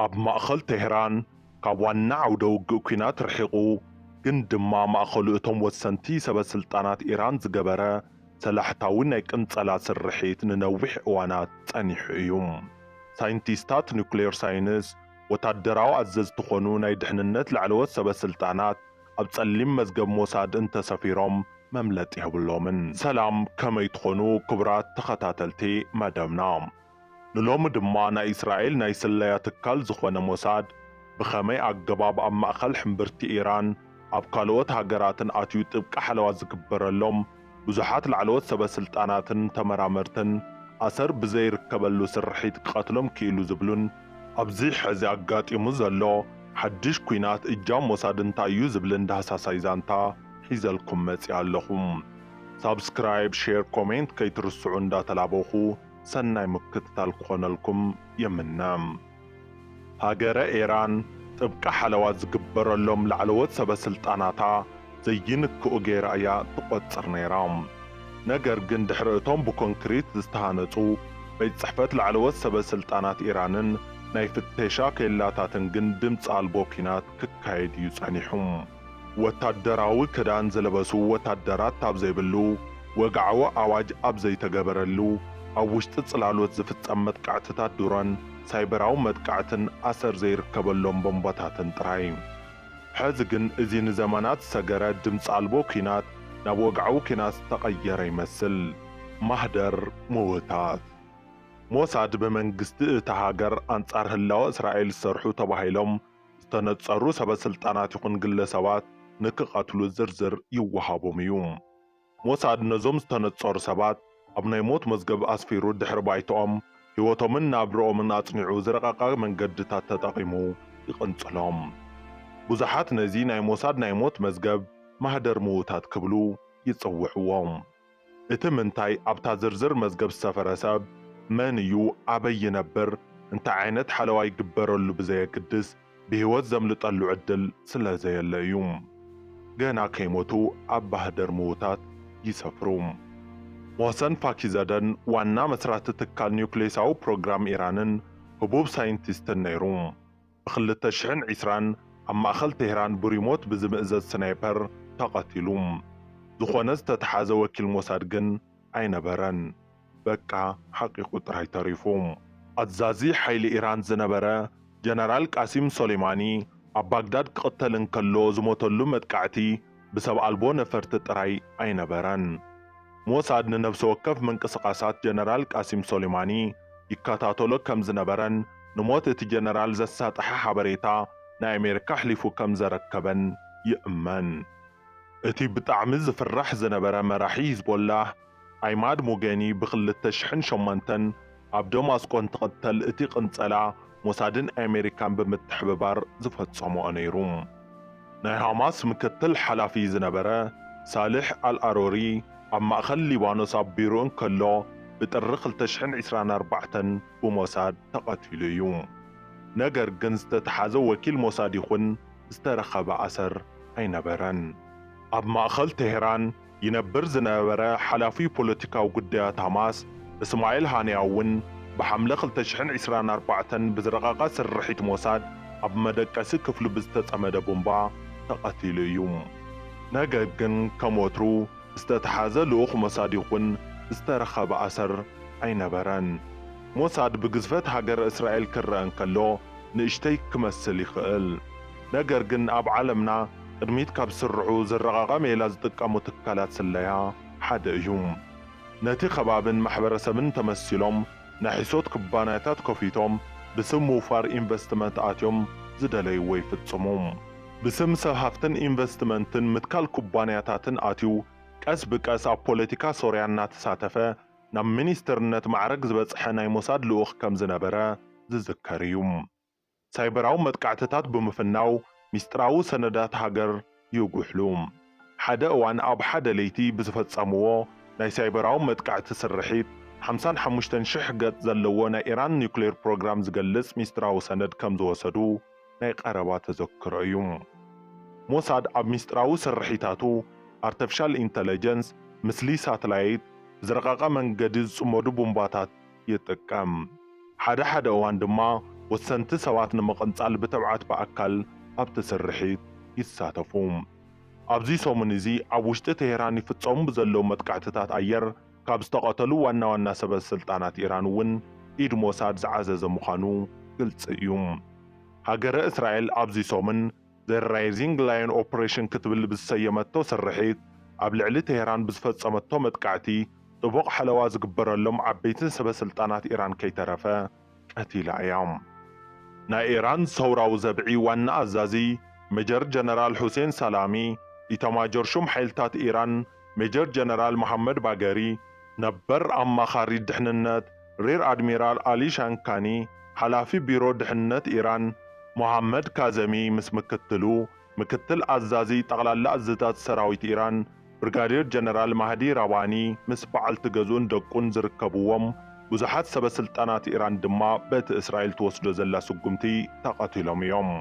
ኣብ ማእኸል ቴህራን ካብ ዋና ዓውደ ውግእ ኲናት ርሒቑ ግን ድማ ማእኸሉ እቶም ወሰንቲ ሰበ ስልጣናት ኢራን ዝገበረ ሰላሕታዊ ናይ ቅንፀላ ስርሒት ንነዊሕ እዋናት ፀኒሑ እዩ። ሳይንቲስታት ኑክሌር ሳይንስ፣ ወታደራዊ ኣዘዝቲ ኾኑ ናይ ድሕንነት ላዕለዎት ሰበ ስልጣናት፣ ኣብ ጸሊም መዝገብ ሞሳድ እንተሰፊሮም መምለጢ የብሎምን። ሰላም ከመይ ትኾኑ ክቡራት ተኸታተልቲ መደብና። ንሎሚ ድማ ናይ እስራኤል ናይ ስለያ ትካል ዝኾነ ሞሳድ ብኸመይ ኣገባብ ኣብ ማእኸል ሕምብርቲ ኢራን ኣብ ካልኦት ሃገራትን ኣትዩ ጥብቂ ሓለዋ ዝግበረሎም፣ ብዙሓት ላዕለዎት ሰበስልጣናትን ተመራመርትን ኣሰር ብዘይርከበሉ ስርሒት ክቐትሎም ክኢሉ ዝብሉን፣ ኣብዚ ሕዚ ኣጋጢሙ ዘሎ ሓድሽ ኲናት እጃም ሞሳድ እንታይ እዩ ዝብልን ዳህሳሳይ ዛንታ ሒዘልኩም መጺኣ ኣለኹ። ሳብስክራይብ፣ ሼር፣ ኮሜንት ከይትርስዑ እንዳተላበኹ ሰናይ ምክትታል ክኾነልኩም ይምነ። ሃገረ ኢራን ጥብቂ ሓለዋ ዝግበረሎም ላዕለዎት ሰበ ስልጣናታ ዘይንክኡ ገይራ እያ ትቖጽር ነይራ። ነገር ግን ድሕሪ እቶም ብኮንክሪት ዝተሃነጹ ቤት ጽሕፈት ላዕለዎት ሰበ ስልጣናት ኢራንን ናይ ፍተሻ ኬላታትን ግን ድምጺ ኣልቦ ኲናት ክካየድ እዩ ጸኒሑ። ወታደራዊ ክዳን ዝለበሱ ወታደራት ኣብ ዘይብሉ፣ ወግዓዊ ኣዋጅ ኣብ ዘይተገበረሉ፣ ኣብ ውሽጢ ጽላሎት ዝፍጸም መጥቃዕትታት ድሮን፣ ሳይበራዊ መጥቃዕትን ኣሰር ዘይርከበሎም ቦምባታትን ጥራይ። ሕዚ ግን እዚ ንዘመናት ዝሰገረ ድምጺ ኣልቦ ኲናት ናብ ወግዓዊ ኲናት ዝተቐየረ ይመስል። ማህደር ምውታት ሞሳድ ብመንግስቲ እታ ሃገር ኣንጻር ህላወ እስራኤል ዝሰርሑ ተባሂሎም ዝተነጸሩ ሰበስልጣናት ይኹን ግለሰባት ንክቐትሉ ዝርዝር ይወሃቦም እዩ። ሞሳድ ነዞም ዝተነጸሩ ሰባት ኣብ ናይ ሞት መዝገብ ኣስፊሩ ድሕሪ ባይትኦም፣ ህይወቶምን ናብርኦምን ኣጽኒዑ ዝረቐቐ መንገድታት ተጠቒሙ ይቕንጽሎም። ብዙሓት ነዚ ናይ ሞሳድ ናይ ሞት መዝገብ ማህደር ምዉታት ክብሉ ይጽውዕዎ። እቲ ምንታይ ኣብታ ዝርዝር መዝገብ ዝሰፈረ ሰብ መን እዩ፣ ኣበይ ይነብር፣ እንታይ ዓይነት ሓለዋ ይግበረሉ ብዘየግድስ ብህይወት ዘምልጠሉ ዕድል ስለዘየለ እዩ። ገና ከይሞቱ ኣብ ባህደር ምዉታት ይሰፍሩ። ሞህሰን ፋኪዘደን ዋና መስራቲ ትካል ኒዩክሌሳዊ ፕሮግራም ኢራንን ህቡብ ሳይንቲስትን ነይሩ። ብ ክልተ ሽሕን ዕስራን ኣብ ማእኸል ቴህራን ብሪሞት ብዝምእዘዝ ስናይፐር ተቐቲሉ። ዝኾነ ዝተትሓዘ ወኪል ሞሳድ ግን ኣይነበረን። በቃ ሓቒቑ ጥራይ ተሪፉ። ኣዛዚ ሓይሊ ኢራን ዝነበረ ጀነራል ቃሲም ሶሌማኒ ኣብ ባግዳድ ክቕተል እንከሎ ዝሞተሉ መጥቃዕቲ ብሰብ ኣልቦ ነፈርቲ ጥራይ ኣይነበረን። ሞሳድ ንነብሲ ወከፍ ምንቅስቓሳት ጀነራል ቃሲም ሶሌማኒ ይከታተሎ ከም ዝነበረን ንሞት እቲ ጀነራል ዘሳጠሐ ሓበሬታ ናይ ኣሜሪካ ኣሕሊፉ ከም ዘረከበን ይእመን። እቲ ብጣዕሚ ዝፍራሕ ዝነበረ መራሒ ሂዝቦላህ፣ ዒማድ ሙገኒ ብ ክልተ ሽሕን ሸሞንተን ኣብ ደማስቆ እንትቕተል እቲ ቅንጸላ ሞሳድን ኣሜሪካን ብምትሕብባር ዝፈጸመኦ ነይሩ። ናይ ሃማስ ምክትል ሓላፊ ዝነበረ ሳልሕ ኣልኣሮሪ ኣብ ማእከል ሊባኖስ ኣብ ቢሩኡ እንከሎ ብጥሪ ክልተ ሽሕን ዒስራን ኣርባዕተን ብሞሳድ ተቐቲሉ እዩ። ነገር ግን ዝተተሓዘ ወኪል ሞሳድ ይኹን ዝተረኸበ ኣሰር ኣይነበረን። ኣብ ማእከል ቴህራን ይነብር ዝነበረ ሓላፊ ፖለቲካዊ ጉዳያት ሃማስ እስማኤል ሃንያ'ውን ብሓምለ ክልተ ሽሕን ዒስራን ኣርባዕተን ብዝረቐቐ ስርሒት ሞሳድ ኣብ መደቀሲ ክፍሉ ብዝተጸመደ ቡምባ ተቐቲሉ እዩ። ነገግ ግን ከም ወትሩ ዝተተሓዘ ልኡኽ ሞሳድ ይኹን ዝተረኸበ ኣሰር ኣይነበረን። ሞሳድ ብግዝፈት ሃገረ እስራኤል ክረኣ እንከሎ ንእሽተይ ክመስል ይኽእል። ነገር ግን ኣብ ዓለምና ቅድሚት ካብ ዝስርዑ ዝረቓቓ ሜላ ዝጥቀሙ ትካላት ስለያ ሓደ እዩ። ነቲ ከባብን ማሕበረሰብን ተመሲሎም ናይ ሕሶት ኩባንያታት ከፊቶም ብስም ምውፋር ኢንቨስትመንት ኣትዮም ዝደለይዎ ይፍፅሙ። ብስም ሰብ ሃፍትን ኢንቨስትመንትን ምትካል ኩባንያታትን ኣትዩ ቀስ ብቀስ ኣብ ፖለቲካ ሶርያ እናተሳተፈ ናብ ሚኒስትርነት ማዕረግ ዝበፅሐ ናይ ሞሳድ ልኡኽ ከምዝነበረ ዝዝከር እዩ። ሳይበራዊ መጥቃዕትታት ብምፍናው ሚስጥራዊ ሰነዳት ሃገር ይጉሕሉ። ሓደ እዋን ኣብ ሓደ ለይቲ ብዝፈጸምዎ ናይ ሳይበራዊ መጥቃዕቲ ስርሒት፣ ሓምሳን ሓሙሽተን ሽሕ ገጽ ዘለዎ ናይ ኢራን ኒዩክሌር ፕሮግራም ዝገልጽ ሚስጥራዊ ሰነድ ከም ዝወሰዱ ናይ ቀረባ ተዘክሮ እዩ። ሞሳድ ኣብ ሚስጥራዊ ስርሒታቱ፣ ኣርተፊሻል ኢንተለጀንስ፣ ምስሊ ሳትላይት፣ ብዝረቐቐ መንገዲ ዝጽመዱ ቡምባታት፣ ይጥቀም። ሓደ ሓደ እዋን ድማ ወሰንቲ ሰባት ንምቕንጻል ብተብዓት ብኣካል ኣብቲ ስርሒት ይሳተፉ። ኣብዚ ሰሙን እዚ ኣብ ውሽጢ ቴህራን ይፍጸሙ ብዘለዉ መጥቃዕትታት ኣየር ካብ ዝተቐተሉ ዋና ዋና ሰበስልጣናት ኢራን እውን ኢድ ሞሳድ ዝዓዘዘ ምዃኑ ግልጺ እዩ። ሃገረ እስራኤል ኣብዚ ሰሙን The Rising Lion Operation ክትብል ብዝሰየመቶ ስርሒት፣ ኣብ ልዕሊ ቴህራን ብዝፈጸመቶ መጥቃዕቲ፣ ጥቡቕ ሓለዋ ዝግበረሎም ዓበይትን ሰበስልጣናት ኢራን ከይተረፈ ቀቲላ እያ። ናይ ኢራን ሰውራዊ ዘብዒ ዋና ኣዛዚ ሜጀር ጀነራል ሑሴን ሳላሚ፣ ኢታማጆር ሹም ሓይልታት ኢራን፣ ሜጀር ጀነራል መሓመድ ባገሪ፣ ነበር ኣማኻሪ ድሕንነት ሬር ኣድሚራል ኣሊ ሻንካኒ፣ ሓላፊ ቢሮ ድሕንነት ኢራን ሞሃመድ ካዘሚ ምስ ምክትሉ ምክትል ኣዛዚ ጠቕላላ እዝታት ሰራዊት ኢራን ብርጋዴር ጀነራል ማህዲ ራባኒ ምስ በዓልቲ ገዝኡን ደቁን ዝርከብዎም ብዙሓት ሰበስልጣናት ኢራን ድማ በቲ እስራኤል ትወስዶ ዘላ ስጉምቲ ተቐቲሎም እዮም።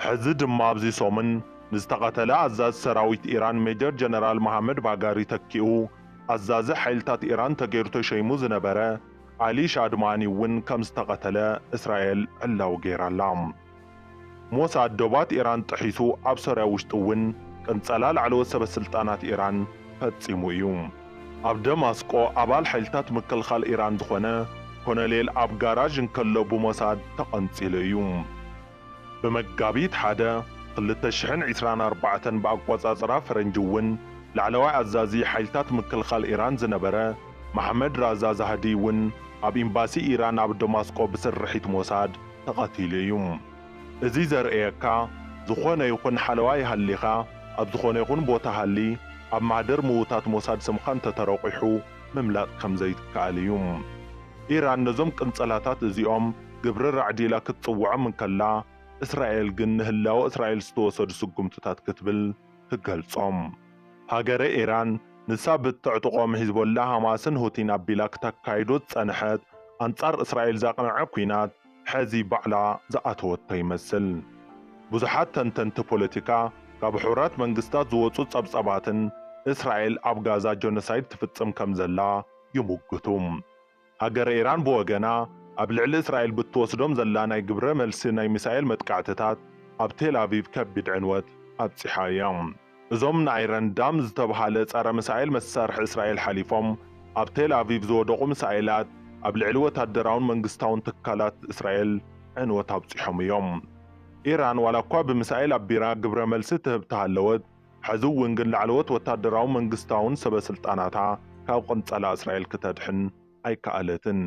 ሕዚ ድማ ኣብዚ ሰሙን ንዝተቐተለ ኣዛዚ ሰራዊት ኢራን ሜጀር ጀነራል መሃመድ ባጋሪ ተኪኡ ኣዛዚ ሓይልታት ኢራን ተገይሩ ተሸይሙ ዝነበረ ዓሊ ሻድማኒ እውን ከምዝተቐተለ እስራኤል ዕላዊ ገይራ ኣላ። ሞሳድ ዶባት ኢራን ጥሒሱ ኣብ ሶርያ ውሽጢ እውን ቅንፀላ ላዕለዎት ሰበስልጣናት ኢራን ፈፂሙ እዩ። ኣብ ደማስቆ ኣባል ሓይልታት ምክልኻል ኢራን ዝኾነ ኮሎኔል ኣብ ጋራዥ እንከሎ ብሞሳድ ተቐንፂሉ እዩ። ብመጋቢት ሓደ ክልተ ሽሕን ዒስራን ኣርባዕተን ብኣቆጻጽራ ፈረንጂ እውን ላዕለዋይ ኣዛዚ ሓይልታት ምክልኻል ኢራን ዝነበረ ማሕመድ ራዛ ዛህዲ እውን ኣብ ኢምባሲ ኢራን ኣብ ደማስቆ ብስርሒት ሞሳድ ተቐቲሉ እዩ። እዚ ዘርእየካ ዝኾነ ይኹን ሓለዋ ይሃሊኻ ኣብ ዝኾነ ይኹን ቦታ ሃሊ ኣብ ማህደር ምውታት ሞሳድ ስምኻ እንተተረቑሑ ምምላጥ ከምዘይትከኣል እዩ። ኢራን ነዞም ቅንጸላታት እዚኦም ግብረ ራዕዲ ኢላ ክትጽውዖም እንከላ፣ እስራኤል ግን ንህላወ እስራኤል ዝተወሰዱ ስጉምትታት ክትብል ትገልጾም። ሃገረ ኢራን ንሳ ብእተዕጥቖም ሒዝቦላህ፣ ሃማስን ሁቲን ኣቢላ ክተካይዶ ዝጸንሐት ኣንጻር እስራኤል ዘቕነዐ ኲናት ሕዚ ባዕላ ዝኣተወቶ ይመስል። ብዙሓት ተንተንቲ ፖለቲካ ካብ ሕቡራት መንግስታት ዝወጹ ጸብጻባትን እስራኤል ኣብ ጋዛ ጆኖሳይድ ትፍጽም ከምዘላ ይሙግቱ። ሃገረ ኢራን ብወገና፣ ኣብ ልዕሊ እስራኤል ብትወስዶም ዘላ ናይ ግብረ መልሲ ናይ ሚሳኤል መጥቃዕትታት፣ ኣብ ቴል ኣቪቭ ከቢድ ዕንወት ኣብጺሓ እያ። እዞም ንኣይረን ዳም ዝተብሃለ ጸረ ምሳኤል መሳርሒ እስራኤል ሓሊፎም ኣብ ቴል ኣቪቭ ዝወደቑ ምሳኤላት፣ ኣብ ልዕሊ ወታደራውን መንግስታውን ትካላት እስራኤል ዕንወት ኣብጺሖም እዮም። ኢራን ዋላኳ ብምሳኤል ኣቢራ ግብረ መልሲ ትህብ ተሃለወት፣ ሕዚ እውን ግን ላዕለዎት ወታደራውን መንግስታውን ሰበስልጣናታ ካብ ቕንጸላ እስራኤል ክተድሕን ኣይከኣለትን።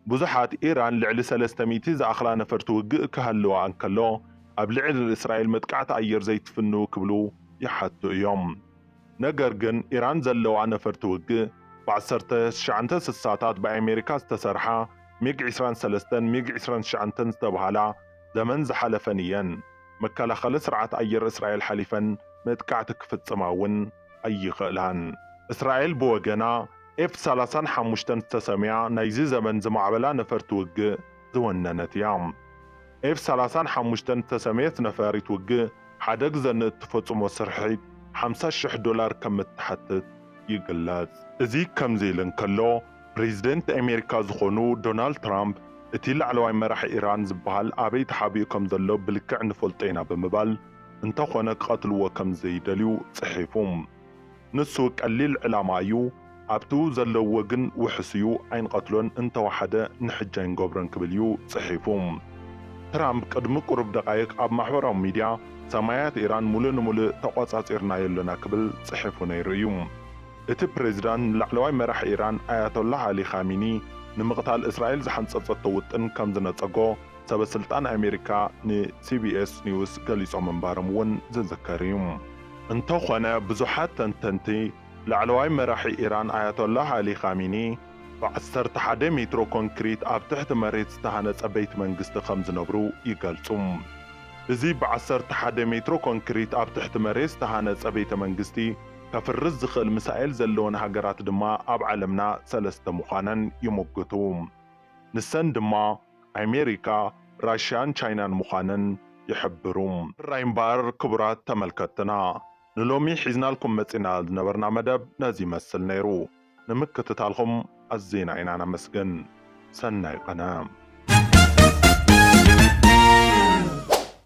ብዙሓት ኢራን ልዕሊ ሰለስተ ሚእቲ ዝኣኽላ ነፈርቲ ውግእ ክሃልዋ እንከሎ ኣብ ልዕል እስራኤል መጥቃዕቲ ኣየር ዘይትፍንው ክብሉ ይሓቱ እዮም። ነገር ግን ኢራን ዘለዋ ነፈርቲ ውግእ ብ ዓሰርተ ትሽዓተ ስሳታት ብ ኣሜሪካ ዝተሰርሓ ሚግ ዕስራን ሰለስተን ሚግ ዕስራን ትሽዓተን ዝተብሃላ ዘመን ዝሓለፈን እየን። መከላኸሊ ስርዓት ኣየር እስራኤል ሓሊፈን መጥቃዕቲ ክፍጽማ እውን ኣይኽእላን። እስራኤል ብወገና፣ ኤፍ ሰላሳን ሓሙሽተን ዝተሰምያ ናይዚ ዘመን ዝማዕበላ ነፈርቲ ውግእ ዝወነነት እያ። ኤፍ ሰላሳን ሓሙሽተን ዝተሰምየት ነፋሪት ውግእ ሓደ ግዘ ንእትፈጽሞ ስርሒት ሓምሳ ሽሕ ዶላር ከም እትሓትት ይግለጽ። እዚ ከምዚ ኢሉ እንከሎ፣ ፕሬዝደንት ኣሜሪካ ዝኾኑ ዶናልድ ትራምፕ እቲ ላዕለዋይ መራሒ ኢራን ዝበሃል ኣበይ ተሓቢኡ ከምዘሎ ብልክዕ ንፈልጦ ኢና ብምባል እንተኾነ ክቐትልዎ ከምዘይደልዩ ጽሒፉ። ንሱ ቀሊል ዕላማ እዩ፣ ኣብቱ ዘለውዎ ግን ውሑስ እዩ፣ ኣይንቐትሎን እንተወሓደ ንሕጂ ኣይንገብሮን ክብል እዩ ጽሒፉ። ትራምፕ ቅድሚ ቁሩብ ደቓይቕ ኣብ ማሕበራዊ ሚድያ ሰማያት ኢራን ሙሉእ ንሙሉእ ተቖጻጺርናዮ ኣሎና ክብል ጽሒፉ ነይሩ እዩ። እቲ ፕሬዝዳንት ንላዕለዋይ መራሒ ኢራን ኣያቶላህ ኣሊ ኻሚኒ ንምቕታል እስራኤል ዝሓንጸጸቶ ውጥን ከም ዝነጸጎ ሰበ ስልጣን ኣሜሪካ ን ሲቢኤስ ኒውስ ገሊጾም ምንባሮም እውን ዝዝከር እዩ። እንተኾነ ብዙሓት ተንተንቲ ላዕለዋይ መራሒ ኢራን ኣያቶላህ ኣሊ ኻሚኒ ብ ዓሰርተ ሓደ ሜትሮ ኮንክሪት ኣብ ትሕቲ መሬት ዝተሃነጸ ቤት መንግስቲ ከም ዝነብሩ ይገልጹ። እዚ ብ ዓሰርተ ሓደ ሜትሮ ኮንክሪት ኣብ ትሕቲ መሬት ዝተሃነጸ ቤተ መንግስቲ፣ ከፍርስ ዝኽእል ምሳኤል ዘለወን ሃገራት ድማ ኣብ ዓለምና ሰለስተ ምዃነን ይሙግቱ። ንሰን ድማ ኣሜሪካ፣ ራሽያን ቻይናን ምዃነን ይሕብሩ። ሕራይ እምበኣር ክቡራት ተመልከትትና ንሎሚ ሒዝናልኩም መጺእና ዝነበርና መደብ ነዚ ይመስል ነይሩ። ንምክትታልኩም ኣዚና ኢና ነመስግን። ሰናይ ቐነ።